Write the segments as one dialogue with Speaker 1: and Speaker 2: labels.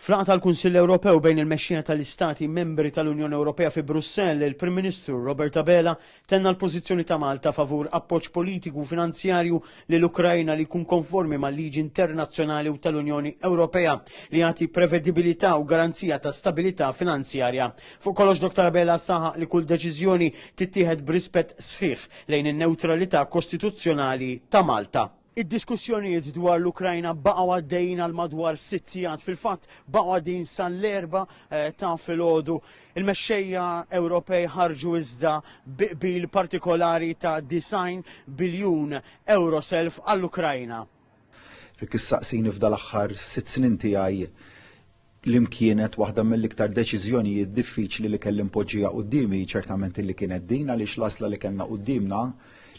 Speaker 1: F'laqgħa tal-Kunsill Ewropew bejn il-mexxejja tal-Istati Membri tal-Unjoni Ewropea fi Brussell, il-Prim Ministru Robert Abela tenna l-pożizzjoni ta' Malta favur appoġġ politiku u finanzjarju lill-Ukraina li jkun konformi mal-liġi internazzjonali u tal-Unjoni Ewropea li jagħti prevedibilità u garanzija ta' stabilità finanzjarja. Fuq kollox Dr Abela saħaq li kull deċiżjoni tittieħed b'rispett sħiħ lejn in-newtralità kostituzzjonali ta' Malta. Id-diskussjonijiet dwar l-Ukrajna baqgħu għaddejjin għal madwar sitt sigħat. Fil-fatt baqgħu għaddejjin sal-erba eh, ta' filgħodu. Il-mexxejja Ewropej ħarġu iżda biqbil partikolari ta' 90 biljun euro self għall-Ukrajna. Rik
Speaker 2: issaqsini f'dal-aħħar sitt snin tiegħi li mkienet waħda mill-iktar deċiżjonijiet diffiċli li kelli npoġġija qudiemi ċertament li kienet din għaliex l-għażla li kellna quddiemna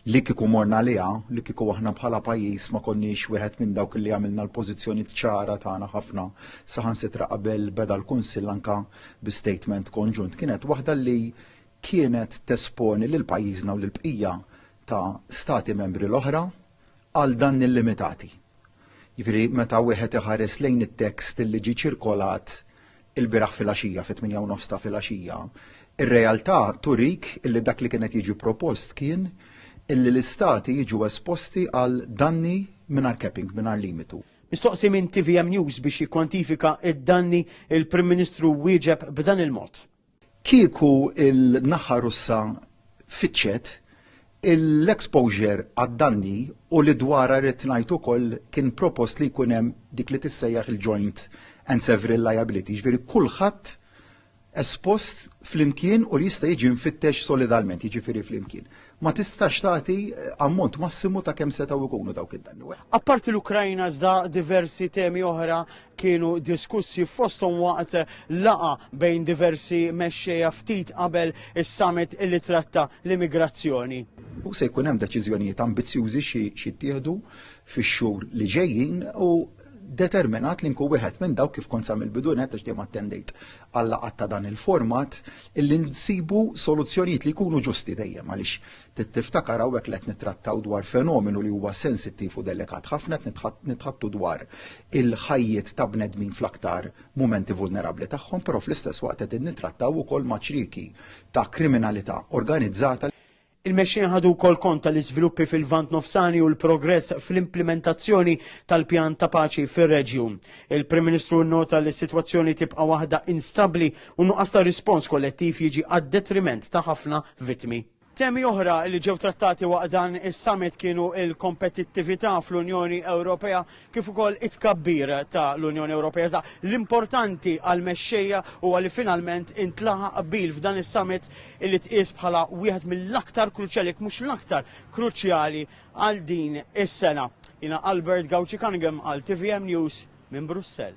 Speaker 2: li kieku morna liha, li kieku aħna bħala pajjiż ma konniex wieħed minn dawk li għamilna l-pożizzjoni ċara tagħna ħafna saħansitra qabel beda l-Kunsill anka bi statement konġunt kienet waħda li kienet tesponi lil pajjiżna u l bqija ta' stati membri l-oħra għal danni llimitati. Jiġifieri meta wieħed iħares lejn it-tekst li ġie ċirkolat ilbieraħ filgħaxija fit-tmienja u nofs ta' filgħaxija, ir-realtà turik illi dak li kien qed jiġi propost kien illi l-istati jiġu esposti għal danni mingħajr capping, mingħajr limitu. Mistoqsi minn
Speaker 1: tvm News biex jikkwantifika d-danni, il-Prim Ministru wieġeb b'dan il-mod. Kieku
Speaker 2: l-naħa Russa fittxet, l-exposure għad-danni u li dwarha rrid ngħid ukoll kien propost li jkun hemm dik li tissejjaħ il-joint and several liability, jiġifieri kulħadd espost flimkien u li jista' jiġi mfittex solidalment, jiġifieri flimkien. ma tistax tagħti ammont massimu ta' kemm setgħu jkunu dawk id-danni. Apparti l-Ukrajna
Speaker 1: iżda diversi temi oħra kienu diskussi fosthom waqt laqa bejn diversi mexxejja ftit qabel is-summit li tratta l-immigrazzjoni. U se jkun hemm
Speaker 2: deċiżjonijiet ambizzjużi xi jittieħdu fix-xhur li ġejjin u determinat li nkun wieħed minn dawk kif kont sa mill-bidu nett għax dejjem attendejt għal laqgħat ta' dan il-format illi nsibu soluzzjonijiet li jkunu ġusti dejjem għaliex tiftakar hawnhekk li qed nittrattaw dwar fenomenu li huwa sensittiv u delikat ħafna qed nitħattu dwar il-ħajjiet ta' bnedmin fl-aktar mumenti vulnerabbli tagħhom, però fl-istess waqt qegħdin nittrattaw ukoll ma' ċrieki ta' kriminalità organizzata Il-Mexxej
Speaker 1: ħadu wkoll kont tal-iżviluppi fil-Lvant Nofsani u l-progress fl-implimentazzjoni tal-pjan ta' paċi fir-reġjun. Il-Prim Ministru nnota li s-sitwazzjoni tibqa' waħda instabbli u nuqqas ta' rispons kollettiv jiġi għad-detriment ta' ħafna vittmi. Temi oħra li ġew trattati waqt dan is-summit kienu l-kompetittività fl-Unjoni Ewropea, kif ukoll it-tkabbir ta' l-Unjoni Ewropea. Iżda l-importanti għal mexxejja huwa li finalment intlaħaq qbil f'dan is-summit li tqies bħala wieħed mill-aktar kruċjali jekk mhux l-aktar kruċjali għal din is-sena. Jiena Albert Gauci Cunningham għal TVM News minn Brussell.